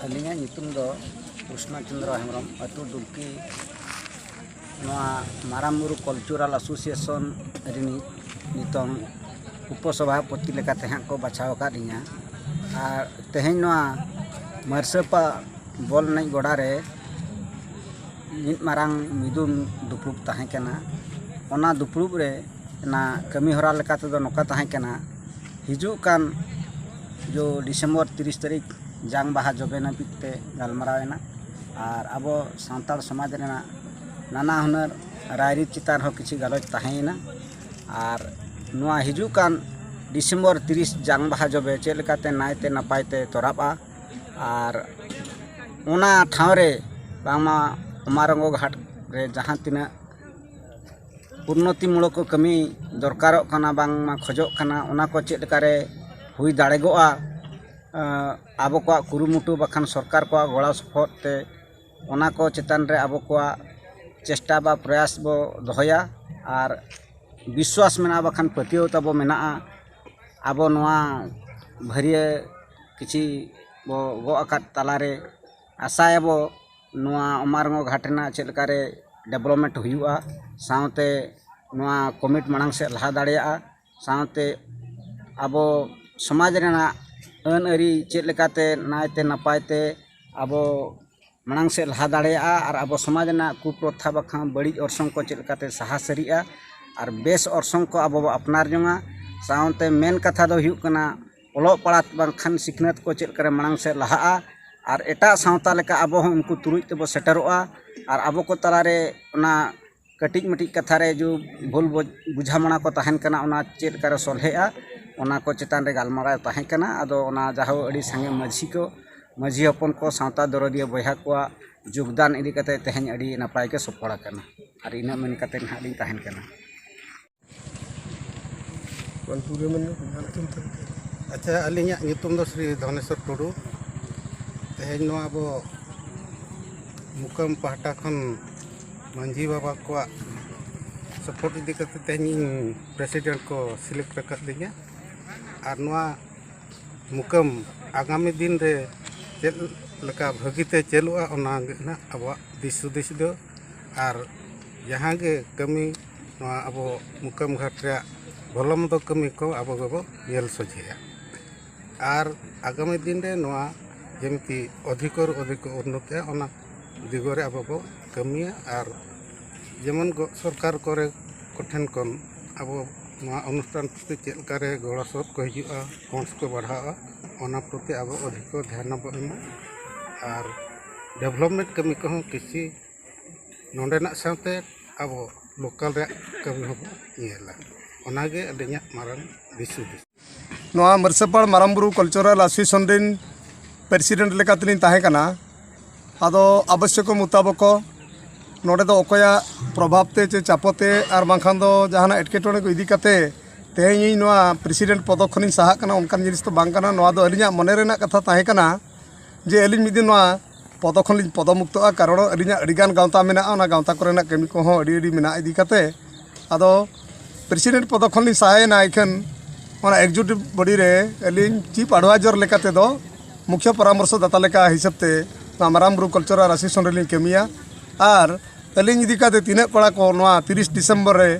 ᱟᱹᱞᱤᱧᱟᱜ ᱧᱩᱛᱩᱢ ᱫᱚ ᱠᱨᱤᱥᱱᱚ ᱪᱚᱱᱫᱨᱚ ᱦᱮᱢᱵᱨᱚᱢ ᱟᱹᱛᱩ ᱰᱩᱵᱠᱤ ᱱᱚᱣᱟ ᱢᱟᱨᱟᱝ ᱵᱩᱨᱩ ᱠᱟᱞᱪᱟᱨᱟᱞ ᱮᱥᱳᱥᱤᱭᱮᱥᱚᱱ ᱨᱤᱱᱤᱡ ᱱᱤᱛᱚᱝ ᱩᱯᱚᱥᱚᱵᱷᱟᱯᱚᱛᱤ ᱞᱮᱠᱟᱛᱮ ᱦᱟᱸᱜ ᱠᱚ ᱵᱟᱪᱷᱟᱣ ᱟᱠᱟᱫ ᱞᱤᱧᱟ ᱟᱨ ᱛᱮᱦᱮᱧ ᱱᱚᱣᱟ ᱢᱟᱹᱨᱥᱟᱹᱯᱟ ᱵᱚᱞ ᱮᱱᱮᱡ ᱜᱚᱰᱟ ᱨᱮ ᱢᱤᱫ ᱢᱟᱨᱟᱝ ᱢᱤᱫᱩᱱ ᱫᱩᱯᱲᱩᱵ ᱛᱟᱦᱮᱸ ᱠᱟᱱᱟ ᱚᱱᱟ ᱫᱩᱯᱲᱩᱵ ᱨᱮ ᱚᱱᱟ ᱠᱟᱹᱢᱤ ᱦᱚᱨᱟ ᱞᱮᱠᱟ ᱛᱮᱫᱚ ᱱᱚᱝᱠᱟ ᱛᱟᱦᱮᱸ ᱠᱟᱱᱟ ᱦᱤᱡᱩᱜ ᱠᱟᱱ ᱡᱚ ᱰᱤᱥᱮᱢᱵᱚᱨ ᱛᱤᱨᱤᱥ ᱛᱟᱹᱨᱤᱠᱷ ᱡᱟᱝ ᱵᱟᱦᱟ ᱡᱚᱵᱮ ᱱᱟᱹᱯᱤᱛ ᱛᱮ ᱜᱟᱞᱢᱟᱨᱟᱣ ᱮᱱᱟ ᱟᱨ ᱟᱵᱚ ᱥᱟᱱᱛᱟᱲ ᱥᱚᱢᱟᱡᱽ ᱨᱮᱱᱟᱜ ᱱᱟᱱᱟ ᱦᱩᱱᱟᱹᱨ ᱨᱟᱭᱨᱤᱛ ᱪᱮᱛᱟᱱ ᱨᱮᱦᱚᱸ ᱠᱤᱪᱷᱩ ᱜᱟᱞᱚᱪ ᱛᱟᱦᱮᱸᱭᱮᱱᱟ ᱟᱨ ᱱᱚᱣᱟ ᱦᱤᱡᱩᱜ ᱠᱟᱱ ᱰᱤᱥᱮᱢᱵᱚᱨ ᱛᱤᱨᱤᱥ ᱡᱟᱝ ᱵᱟᱦᱟ ᱡᱚᱵᱮ ᱪᱮᱫ ᱞᱮᱠᱟᱛᱮ ᱱᱟᱭᱛᱮ ᱱᱟᱯᱟᱭ ᱛᱮ ᱛᱚᱨᱟᱜᱼᱟ ᱟᱨ ᱚᱱᱟ ᱴᱷᱟᱶ ᱨᱮ ᱵᱟᱝᱢᱟ ᱚᱢᱟᱨᱚᱝᱜᱚ ᱜᱷᱟᱴ ᱨᱮ ᱡᱟᱦᱟᱸ ᱛᱤᱱᱟᱹᱜ ᱩᱱᱱᱚᱛᱤ ᱢᱩᱞᱚᱠ ᱠᱟᱹᱢᱤ ᱫᱚᱨᱠᱟᱨᱚᱜ ᱠᱟᱱᱟ ᱵᱟᱝᱢᱟ ᱠᱷᱚᱡᱚᱜ ᱠᱟᱱᱟ ᱚᱱᱟ ᱠᱚ ᱪᱮᱫ ᱞᱮᱠᱟ ᱨᱮ ᱦᱩᱭ ᱫᱟᱲᱮᱜᱚᱜᱼᱟ ᱟᱵᱚ ᱠᱚᱣᱟᱜ ᱠᱩᱨᱩᱢᱩᱴᱩ ᱵᱟᱠᱷᱟᱱ ᱥᱚᱨᱠᱟᱨ ᱠᱚᱣᱟᱜ ᱜᱚᱲᱚ ᱥᱚᱯᱚᱦᱚᱫ ᱛᱮ ᱚᱱᱟ ᱠᱚ ᱪᱮᱛᱟᱱ ᱨᱮ ᱟᱵᱚ ᱠᱚᱣᱟᱜ ᱪᱮᱥᱴᱟ ᱵᱟ ᱯᱨᱚᱭᱟᱥ ᱵᱚ ᱫᱚᱦᱚᱭᱟ ᱟᱨ ᱵᱤᱥᱣᱟᱥ ᱢᱮᱱᱟᱜᱼᱟ ᱵᱟᱠᱷᱟᱱ ᱯᱟᱹᱛᱭᱟᱹᱣ ᱛᱟᱵᱚ ᱢᱮᱱᱟᱜᱼᱟ ᱟᱵᱚ ᱱᱚᱣᱟ ᱵᱷᱟᱹᱨᱭᱟᱹ ᱠᱤᱪᱷᱤ ᱵᱚ ᱜᱚᱜ ᱟᱠᱟᱫ ᱛᱟᱞᱟ ᱨᱮ ᱟᱥᱟᱭᱟᱵᱚ ᱱᱚᱣᱟ ᱚᱢᱟᱨᱚᱜᱚᱲ ᱜᱷᱟᱴ ᱨᱮᱱᱟᱜ ᱪᱮᱫ ᱞᱮᱠᱟᱨᱮ ᱰᱮᱵᱷᱞᱚᱯᱢᱮᱱᱴ ᱦᱩᱭᱩᱜᱼᱟ ᱥᱟᱶᱛᱮ ᱱᱚᱣᱟ ᱠᱚᱢᱤᱴ ᱢᱟᱲᱟᱝ ᱥᱮᱫ ᱞᱟᱦᱟ ᱫᱟᱲᱮᱭᱟᱜᱼᱟ ᱥᱟᱶᱛᱮ ᱟᱵᱚ ᱥᱚᱢᱟᱡᱽ ᱨᱮᱱᱟᱜ ᱟᱹᱱ ᱟᱹᱨᱤ ᱪᱮᱫ ᱞᱮᱠᱟᱛᱮ ᱱᱟᱭᱛᱮ ᱱᱟᱯᱟᱭ ᱛᱮ ᱟᱵᱚ ᱢᱟᱲᱟᱝ ᱥᱮᱫ ᱞᱟᱦᱟ ᱫᱟᱲᱮᱭᱟᱜᱼᱟ ᱟᱨ ᱟᱵᱚ ᱥᱚᱢᱟᱡᱽ ᱨᱮᱱᱟᱜ ᱠᱩᱯᱨᱚᱛᱷᱟ ᱵᱟᱠᱷᱟᱱ ᱵᱟᱹᱲᱤᱡ ᱚᱨᱥᱚᱝ ᱠᱚ ᱪᱮᱫ ᱞᱮᱠᱟᱛᱮ ᱥᱟᱦᱟ ᱥᱟᱹᱨᱤᱜᱼᱟ ᱟᱨ ᱵᱮᱥ ᱚᱨᱥᱚᱝ ᱠᱚ ᱟᱵᱚ ᱵᱚᱱ ᱟᱯᱱᱟᱨ ᱡᱚᱝᱟ ᱥᱟᱶᱛᱮ ᱢᱮᱱ ᱠᱟᱛᱷᱟ ᱫᱚ ᱦᱩᱭᱩᱜ ᱠᱟᱱᱟ ᱚᱞᱚᱜ ᱯᱟᱲᱦᱟᱜ ᱵᱟᱝᱠᱷᱟᱱ ᱥᱤᱠᱷᱱᱟᱹᱛ ᱠᱚ ᱪᱮᱫ ᱞᱮᱠᱟᱨᱮ ᱢᱟᱲᱟᱝ ᱥᱮᱫ ᱞᱟᱦᱟᱜᱼᱟ ᱟᱨ ᱮᱴᱟᱜ ᱥᱟᱶᱛᱟ ᱞᱮᱠᱟ ᱟᱵᱚ ᱦᱚᱸ ᱩᱱᱠᱩ ᱛᱩᱞᱩᱡ ᱛᱮᱵᱚ ᱥᱮᱴᱮᱨᱚᱜᱼᱟ ᱟᱨ ᱟᱵᱚ ᱠᱚ ᱛᱟᱞᱟ ᱨᱮ ᱚᱱᱟ ᱠᱟᱹᱴᱤᱡ ᱢᱟᱹᱴᱤᱡ ᱠᱟᱛᱷᱟ ᱨᱮ ᱡᱩᱫᱤ ᱵᱷᱩᱞ ᱵᱩᱡᱷᱟᱹᱣ ᱢᱟᱱᱟ ᱠᱚ ᱛᱟᱦᱮᱱ ᱠᱟᱱᱟ ᱚᱱᱟ ᱪᱮᱫ ᱞᱮᱠᱟᱨᱮ ᱥᱚᱞᱦᱮᱜᱼᱟ ᱚᱱᱟ ᱠᱚ ᱪᱮᱛᱟᱱ ᱨᱮ ᱜᱟᱞᱢᱟᱨᱟᱣ ᱛᱟᱦᱮᱸ ᱠᱟᱱᱟ ᱟᱫᱚ ᱚᱱᱟ ᱡᱟᱦᱳ ᱟᱹᱰᱤ ᱥᱟᱸᱜᱮ ᱢᱟᱹᱡᱷᱤ ᱠᱚ ᱢᱟᱹᱡᱷᱤ ᱦᱚᱯᱚᱱ ᱠᱚ ᱥᱟᱶᱛᱟ ᱫᱚᱨᱚᱫᱤᱭᱟᱹ ᱵᱚᱭᱦᱟ ᱠᱚᱣᱟᱜ ᱡᱳᱜᱽᱫᱟᱱ ᱤᱫᱤ ᱠᱟᱛᱮ ᱛᱮᱦᱮᱧ ᱟᱹᱰᱤ ᱱᱟᱯᱟᱭ ᱜᱮ ᱥᱚᱯᱷᱚᱲ ᱟᱠᱟᱱᱟ ᱟᱨ ᱤᱱᱟᱹ ᱢᱮᱱ ᱠᱟᱛᱮ ᱱᱟᱦᱟᱜ ᱞᱤᱧ ᱛᱟᱦᱮᱱ ᱠᱟᱱᱟ ᱟᱪᱪᱷᱟ ᱟᱹᱞᱤᱧᱟᱜ ᱧᱩᱛᱩᱢ ᱫᱚ ᱥᱨᱤ ᱫᱷᱚᱱᱮᱥᱚᱨ ᱴᱩᱰᱩ ᱛᱮᱦᱮᱧ ᱱᱚᱣᱟ ᱟᱵᱚ ᱢᱩᱠᱟᱹᱢ ᱯᱟᱦᱴᱟ ᱠᱷᱚᱱ ᱢᱟᱹᱡᱷᱤ ᱵᱟᱵᱟ ᱠᱚᱣᱟᱜ ᱥᱚᱯᱚᱨᱴ ᱤᱫᱤ ᱠᱟᱛᱮ ᱛᱮᱦᱮᱧ ᱯᱨᱮᱥᱤᱰᱮᱱᱴ ᱠᱚ ᱥᱤᱞᱮᱠᱴ ᱟᱠᱟᱫ ᱞᱤᱧᱟ ᱟᱨ ᱱᱚᱣᱟ ᱢᱩᱠᱟᱹᱢ ᱟᱜᱟᱢᱤ ᱫᱤᱱ ᱨᱮ ᱪᱮᱫ ᱞᱮᱠᱟ ᱵᱷᱟᱹᱜᱤᱛᱮ ᱪᱟᱹᱞᱩᱜᱼᱟ ᱚᱱᱟᱜᱮ ᱱᱟᱜ ᱟᱵᱚᱣᱟᱜ ᱫᱤᱥ ᱦᱩᱫᱤᱥ ᱫᱚ ᱟᱨ ᱡᱟᱦᱟᱸ ᱜᱮ ᱠᱟᱹᱢᱤ ᱱᱚᱣᱟ ᱟᱵᱚ ᱢᱩᱠᱟᱹᱢ ᱜᱷᱟᱴ ᱨᱮᱭᱟᱜ ᱵᱷᱚᱞᱚ ᱢᱚᱱᱫᱚ ᱠᱟᱹᱢᱤ ᱠᱚ ᱟᱵᱚ ᱜᱮᱵᱚ ᱧᱮᱞ ᱥᱚᱡᱷᱮᱭᱟ ᱟᱨ ᱟᱜᱟᱢᱤ ᱫᱤᱱ ᱨᱮ ᱱᱚᱣᱟ ᱡᱮᱢᱛᱤ ᱚᱫᱷᱤᱠᱚᱨ ᱚᱫᱷᱤᱠᱚ ᱩᱱᱱᱚᱛᱤᱜᱼᱟ ᱚᱱᱟ ᱫᱤᱜᱚ ᱨᱮ ᱟᱵᱚ ᱵᱚ ᱠᱟᱹᱢᱤᱭᱟ ᱟᱨ ᱡᱮᱢᱚᱱ ᱠᱚ ᱥᱚᱨᱠᱟᱨ ᱠᱚᱨᱮ ᱠᱚᱴᱷᱮᱱ ᱠᱷᱚᱱ ᱟᱵᱚ ᱱᱚᱣᱟ ᱚᱱᱩᱥᱴᱷᱟᱱ ᱯᱨᱚᱛᱤ ᱪᱮᱫ ᱞᱮᱠᱟ ᱨᱮ ᱜᱚᱲᱚ ᱥᱚᱯᱚᱦᱚᱫ ᱠᱚ ᱦᱤᱡᱩᱜᱼᱟ ᱯᱷᱚᱱᱰᱥ ᱠᱚ ᱵᱟᱲᱦᱟᱜᱼᱟ ᱚᱱᱟ ᱯᱨᱚᱛᱤ ᱟᱵᱚ ᱚᱫᱷᱤᱠᱚ ᱫᱷᱮᱭᱟᱱ ᱵᱚᱱ ᱮᱢᱟ ᱟᱨ ᱰᱮᱵᱷᱞᱚᱯᱢᱮᱱᱴ ᱠᱟᱹᱢᱤ ᱠᱚᱦᱚᱸ ᱠᱤᱪᱷᱤ ᱱᱚᱰᱮᱱᱟᱜ ᱥᱟᱶᱛᱮ ᱟᱵᱚ ᱞᱳᱠᱟᱞ ᱨᱮᱭᱟᱜ ᱠᱟᱹᱢᱤ ᱦᱚᱸᱵᱚᱱ ᱧᱮᱞᱟ ᱚᱱᱟᱜᱮ ᱟᱹᱞᱤᱧᱟᱜ ᱢᱟᱨᱟᱝ ᱫᱤᱥ ᱦᱩᱫᱤᱥ ᱱᱚᱣᱟ ᱢᱟᱹᱨᱥᱟᱹᱯᱟᱲ ᱢᱟᱨᱟᱝ ᱵᱩᱨᱩ ᱠᱟᱞᱪᱟᱨᱟᱞ ᱮᱥᱳᱥᱤᱭᱮᱥᱚᱱ ᱨᱮᱱ ᱯᱨᱮᱥᱤᱰᱮᱱᱴ ᱞᱮᱠᱟ ᱛᱮᱞᱤᱧ ᱛᱟᱦᱮᱸ ᱠᱟᱱᱟ ᱟᱫᱚ ᱟᱵᱚᱥᱭᱚᱠᱚ ᱢᱩᱛᱟᱵᱚᱠᱚ ᱱᱚᱰᱮ ᱫᱚ ᱚᱠᱚᱭᱟᱜ ᱯᱨᱚᱵᱷᱟᱵᱽ ᱛᱮ ᱪᱮ ᱪᱟᱯᱚ ᱛᱮ ᱟᱨ ᱵᱟᱝᱠᱷᱟᱱ ᱫᱚ ᱡᱟᱦᱟᱱᱟᱜ ᱮᱴᱠᱮᱴᱚᱬᱮ ᱠᱚ ᱤᱫᱤ ᱠᱟᱛᱮ ᱛᱮᱦᱮᱧ ᱤᱧ ᱱᱚᱣᱟ ᱯᱨᱮᱥᱤᱰᱮᱱᱴ ᱯᱚᱫᱚ ᱠᱷᱚᱱᱤᱧ ᱥᱟᱦᱟᱜ ᱠᱟᱱᱟ ᱚᱱᱠᱟᱱ ᱡᱤᱱᱤᱥ ᱫᱚ ᱵᱟᱝ ᱠᱟᱱᱟ ᱱᱚᱣᱟ ᱫᱚ ᱟᱹᱞᱤᱧᱟᱜ ᱢᱚᱱᱮ ᱨᱮᱱᱟᱜ ᱠᱟᱛᱷᱟ ᱛᱟᱦᱮᱸ ᱠᱟᱱᱟ ᱡᱮ ᱟᱹᱞᱤᱧ ᱢᱤᱫ ᱫᱤᱱ ᱱᱚᱣᱟ ᱯᱚᱫᱚ ᱠᱷᱚᱱ ᱞᱤᱧ ᱯᱚᱫᱚ ᱢᱩᱠᱛᱚᱜᱼᱟ ᱠᱟᱨᱚᱱ ᱟᱹᱞᱤᱧᱟᱜ ᱟᱹᱰᱤ ᱜᱟᱱ ᱜᱟᱶᱛᱟ ᱢᱮᱱᱟᱜᱼᱟ ᱚᱱᱟ ᱜᱟᱶᱛᱟ ᱠᱚᱨᱮᱱᱟᱜ ᱠᱟᱹᱢᱤ ᱠᱚᱦᱚᱸ ᱟᱹᱰᱤ ᱟᱹᱰᱤ ᱢᱮᱱᱟᱜ ᱤᱫᱤ ᱠᱟᱛᱮ ᱟᱫᱚ ᱯᱨᱮᱥᱤᱰᱮᱱᱴ ᱯᱚᱫᱚ ᱠᱷᱚᱱ ᱞᱤᱧ ᱥᱟᱦᱟᱭᱮᱱᱟ ᱤᱠᱷᱟᱹᱱ ᱚᱱᱟ ᱮᱠᱡᱩᱴᱤᱵᱽ ᱵᱚᱰᱤ ᱨᱮ ᱟᱹᱞᱤᱧ ᱪᱤᱯ ᱟᱰᱵᱷᱟᱭᱡᱚᱨ ᱞᱮᱠᱟ ᱛᱮᱫᱚ ᱢᱩᱠᱷᱭᱟᱹ ᱯᱚᱨᱟᱢᱚᱨᱥᱚ ᱫᱟᱛᱟ ᱞᱮᱠᱟ ᱦᱤᱥᱟᱹᱵ ᱛᱮ ᱱᱚᱣᱟ ᱢᱟᱨᱟᱝ ᱵᱩᱨᱩ ᱠᱟᱞᱪᱟᱨᱟᱞ ᱮᱥᱳᱥᱤᱭᱮᱥᱚᱱ ᱨᱮᱞᱤᱧ ᱠᱟᱹᱢᱤᱭᱟ ᱟᱨ ᱟᱹᱞᱤᱧ ᱤᱫᱤ ᱠᱟᱛᱮ ᱛᱤᱱᱟᱹᱜ ᱠᱚᱲᱟ ᱠᱚ ᱱᱚᱣᱟ ᱛᱤᱨᱤᱥ ᱰᱤᱥᱮᱢᱵᱚᱨ ᱨᱮ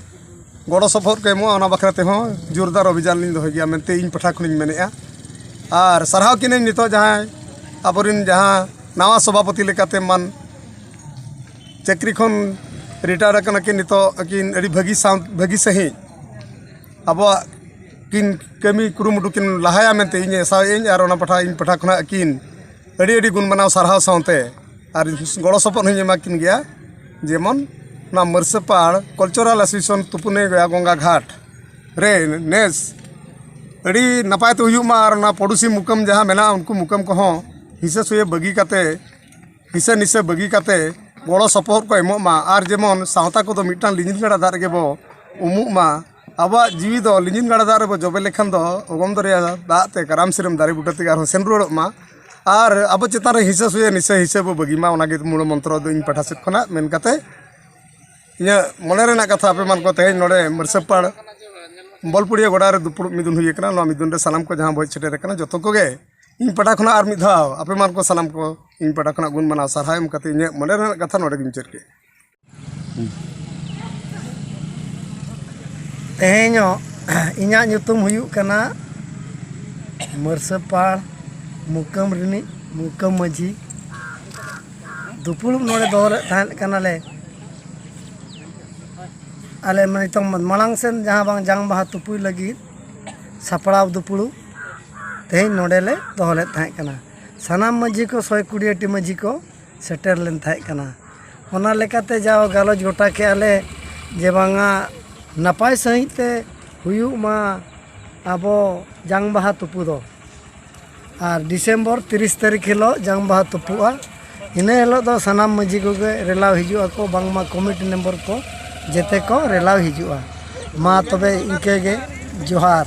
ᱜᱚᱲᱚ ᱥᱚᱯᱚᱦᱚᱫ ᱠᱚ ᱮᱢᱚᱜᱼᱟ ᱚᱱᱟ ᱵᱟᱠᱷᱨᱟ ᱛᱮᱦᱚᱸ ᱡᱳᱨᱫᱟᱨ ᱚᱵᱷᱤᱡᱟᱱ ᱞᱤᱧ ᱫᱚᱦᱚᱭ ᱜᱮᱭᱟ ᱢᱮᱱᱛᱮ ᱤᱧ ᱯᱟᱦᱴᱟ ᱠᱷᱚᱱᱤᱧ ᱢᱮᱱᱮᱜᱼᱟ ᱟᱨ ᱥᱟᱨᱦᱟᱣ ᱠᱤᱱᱟᱹᱧ ᱱᱤᱛᱚᱜ ᱡᱟᱦᱟᱸᱭ ᱟᱵᱚᱨᱮᱱ ᱡᱟᱦᱟᱸ ᱱᱟᱣᱟ ᱥᱚᱵᱷᱟᱯᱚᱛᱤ ᱞᱮᱠᱟᱛᱮ ᱢᱟᱱ ᱪᱟᱹᱠᱨᱤ ᱠᱷᱚᱱ ᱨᱤᱴᱟᱭᱟᱨ ᱟᱠᱟᱱᱟ ᱠᱤᱱ ᱱᱤᱛᱚᱜ ᱟᱹᱠᱤᱱ ᱟᱹᱰᱤ ᱵᱷᱟᱹᱜᱤ ᱥᱟᱶ ᱵᱷᱟᱹᱜᱤ ᱥᱟᱺᱦᱤᱡ ᱟᱵᱚᱣᱟᱜ ᱠᱤᱱ ᱠᱟᱹᱢᱤ ᱠᱩᱨᱩᱢᱩᱴᱩ ᱠᱤᱱ ᱞᱟᱦᱟᱭᱟ ᱢᱮᱱᱛᱮ ᱤᱧ ᱟᱥᱟᱭᱟᱹᱧ ᱟᱨ ᱚᱱᱟ ᱯᱟᱦᱴᱟ ᱤᱧ ᱯᱟᱦᱴᱟ ᱠᱷᱚᱱᱟᱜ ᱟᱹᱠᱤᱱ ᱟᱹᱰᱤ ᱟᱹᱰᱤ ᱜᱩᱱ ᱢᱟᱱᱟᱣ ᱥᱟᱨᱦᱟᱣ ᱥᱟᱶᱛᱮ ᱟᱨ ᱜᱚᱲᱚ ᱥᱚᱯᱚᱦᱚᱫ ᱦᱚᱸᱧ ᱮᱢᱟ ᱠᱤᱱ ᱜᱮᱭᱟ ᱡᱮᱢᱚᱱ ᱱᱚᱣᱟ ᱢᱟᱹᱨᱥᱟᱹᱯᱟᱲ ᱠᱟᱞᱪᱟᱨᱟᱞ ᱮᱥᱳᱥᱤᱭᱮᱥᱚᱱ ᱛᱩᱯᱩᱱᱮ ᱜᱚᱭᱟ ᱜᱚᱝᱜᱟ ᱜᱷᱟᱴ ᱨᱮ ᱱᱮᱥ ᱟᱹᱰᱤ ᱱᱟᱯᱟᱭ ᱛᱮ ᱦᱩᱭᱩᱜ ᱢᱟ ᱟᱨ ᱚᱱᱟ ᱯᱚᱲᱚᱥᱤ ᱢᱩᱠᱟᱹᱢ ᱡᱟᱦᱟᱸ ᱢᱮᱱᱟᱜᱼᱟ ᱩᱱᱠᱩ ᱢᱩᱠᱟᱹᱢ ᱠᱚᱦᱚᱸ ᱦᱤᱥᱟᱹ ᱥᱩᱭᱟᱹ ᱵᱟᱹᱜᱤ ᱠᱟᱛᱮ ᱦᱤᱥᱟᱹ ᱱᱤᱥᱟᱹ ᱵᱟᱹᱜᱤ ᱠᱟᱛᱮ ᱜᱚᱲᱚ ᱥᱚᱯᱚᱦᱚᱫ ᱠᱚ ᱮᱢᱚᱜ ᱢᱟ ᱟᱨ ᱡᱮᱢᱚᱱ ᱥᱟᱶᱛᱟ ᱠᱚᱫᱚ ᱢᱤᱫᱴᱟᱝ ᱞᱤᱸᱜᱤᱱ ᱜᱟᱰᱟ ᱫᱟᱜ ᱨᱮᱜᱮ ᱵᱚ ᱩᱢᱩᱜ ᱢᱟ ᱟᱵᱚᱣᱟᱜ ᱡᱤᱣᱤ ᱫᱚ ᱞᱤᱸᱡᱤᱱ ᱜᱟᱰᱟ ᱫᱟᱜ ᱨᱮᱵᱚ ᱡᱚᱵᱮ ᱞᱮᱠᱷᱟᱱ ᱫᱚ ᱚᱜᱚᱢ ᱫᱚᱨᱭᱟ ᱫᱟᱜ ᱛᱮ ᱠᱟᱨᱟᱢ ᱥᱤᱨᱟᱹᱢ ᱫᱟᱨᱮ ᱵᱩᱴᱟᱹ ᱛᱮᱜᱮ ᱟᱨᱦᱚᱸ ᱥᱮᱱ ᱨᱩᱣᱟᱹᱲᱚᱜ ᱢᱟ ᱟᱨ ᱟᱵᱚ ᱪᱮᱛᱟᱱ ᱨᱮ ᱦᱤᱥᱟᱹ ᱥᱩᱭᱟᱹ ᱱᱤᱥᱟᱹ ᱦᱤᱥᱟᱹ ᱵᱚ ᱵᱟᱹᱜᱤ ᱢᱟ ᱚᱱᱟᱜᱮ ᱢᱩᱬ ᱢᱚᱱᱛᱨᱚ ᱫᱚ ᱤᱧ ᱯᱟᱦᱴᱟ ᱥᱮᱫ ᱠᱷᱚᱱᱟᱜ ᱢᱮᱱ ᱠᱟᱛᱮ ᱤᱧᱟᱹᱜ ᱢᱚᱱᱮ ᱨᱮᱱᱟᱜ ᱠᱟᱛᱷᱟ ᱟᱯᱮ ᱢᱟᱱ ᱠᱚ ᱛᱮᱦᱮᱧ ᱱᱚᱰᱮ ᱢᱟᱹᱨᱥᱟᱹᱯᱟᱲ ᱵᱚᱞᱯᱩᱲᱤᱭᱟᱹ ᱜᱚᱰᱟ ᱨᱮ ᱫᱩᱯᱲᱩᱵ ᱢᱤᱫᱩᱱ ᱦᱩᱭ ᱟᱠᱟᱱᱟ ᱱᱚᱣᱟ ᱢᱤᱫᱩᱱ ᱨᱮ ᱥᱟᱱᱟᱢ ᱠᱚ ᱡᱟᱦᱟᱸ ᱵᱚ ᱦᱮᱡ ᱥᱮᱴᱮᱨ ᱟᱠᱟᱱᱟ ᱡᱚᱛᱚ ᱠᱚᱜᱮ ᱤᱧ ᱯᱟᱦᱴᱟ ᱠᱷᱚᱱᱟᱜ ᱟᱨ ᱢᱤᱫ ᱫᱷᱟᱣ ᱟᱯᱮ ᱢᱟᱱ ᱠᱚ ᱥᱟᱱᱟᱢ ᱠᱚ ᱤᱧ ᱯᱟᱦᱴᱟ ᱠᱷᱚᱱᱟᱜ ᱜᱩᱱ ᱢᱟᱱᱟᱣ ᱥᱟᱨᱦᱟᱣ ᱮᱢ ᱠᱟᱛᱮ ᱤᱧᱟᱹᱜ ᱢᱚᱱᱮ ᱨᱮᱱᱟᱜ ᱠᱟᱛᱷᱟ ᱱᱚᱰᱮ ᱜᱮᱧ ᱢᱩᱪᱟᱹᱫ ᱠᱮᱫᱼᱟ ᱛᱮᱦᱮᱧᱚᱜ ᱤᱧᱟᱹᱜ ᱧᱩᱛᱩᱢ ᱦᱩᱭᱩᱜ ᱠᱟᱱᱟ ᱢᱟᱹᱨᱥᱟᱹᱯᱟᱲ ᱢᱩᱠᱟᱹᱢ ᱨᱤᱱᱤᱡ ᱢᱩᱠᱟᱹᱢ ᱢᱟᱹᱡᱷᱤ ᱫᱩᱯᱩᱲᱩᱵ ᱱᱚᱰᱮ ᱫᱚᱦᱚ ᱞᱮᱫ ᱛᱟᱦᱮᱸ ᱠᱟᱱᱟᱞᱮ ᱟᱞᱮ ᱱᱤᱛᱚᱝ ᱢᱟᱲᱟᱝ ᱥᱮᱱ ᱡᱟᱦᱟᱸ ᱵᱟᱝ ᱡᱟᱝ ᱵᱟᱦᱟ ᱛᱩᱯᱩᱭ ᱞᱟᱹᱜᱤᱫ ᱥᱟᱯᱲᱟᱣ ᱫᱩᱯᱩᱲᱩᱵ ᱛᱮᱦᱮᱧ ᱱᱚᱰᱮᱞᱮ ᱫᱚᱦᱚ ᱞᱮᱫ ᱛᱟᱦᱮᱸ ᱠᱟᱱᱟ ᱥᱟᱱᱟᱢ ᱢᱟᱹᱡᱷᱤ ᱠᱚ ᱥᱚᱭ ᱠᱩᱲᱤ ᱴᱤ ᱢᱟᱹᱡᱷᱤ ᱠᱚ ᱥᱮᱴᱮᱨ ᱞᱮᱱ ᱛᱟᱦᱮᱸ ᱠᱟᱱᱟ ᱚᱱᱟ ᱞᱮᱠᱟᱛᱮ ᱡᱟᱣ ᱜᱟᱞᱚᱪ ᱜᱚᱴᱟ ᱠᱮᱜᱼᱟ ᱞᱮ ᱡᱮ ᱵᱟᱝᱟ ᱱᱟᱯᱟᱭ ᱥᱟᱺᱦᱤᱡ ᱛᱮ ᱦᱩᱭᱩᱜ ᱢᱟ ᱟᱵᱚ ᱡᱟᱝ ᱵᱟᱦᱟ ᱛᱩᱯᱩ ᱫᱚ ᱟᱨ ᱰᱤᱥᱮᱢᱵᱚᱨ ᱛᱤᱨᱤᱥ ᱛᱟᱹᱨᱤᱠᱷ ᱦᱤᱞᱳᱜ ᱡᱟᱝ ᱵᱟᱦᱟ ᱛᱩᱯᱩᱜᱼᱟ ᱤᱱᱟᱹ ᱦᱤᱞᱳᱜ ᱫᱚ ᱥᱟᱱᱟᱢ ᱢᱟᱺᱡᱷᱤ ᱠᱚᱜᱮ ᱨᱮᱞᱟᱣ ᱦᱤᱡᱩᱜ ᱟᱠᱚ ᱵᱟᱝᱢᱟ ᱠᱚᱢᱤᱴᱤ ᱢᱮᱢᱵᱚᱨ ᱠᱚ ᱡᱮᱛᱮ ᱠᱚ ᱨᱮᱞᱟᱣ ᱦᱤᱡᱩᱜᱼᱟ ᱢᱟ ᱛᱚᱵᱮ ᱤᱱᱠᱟᱹ ᱜᱮ ᱡᱚᱦᱟᱨ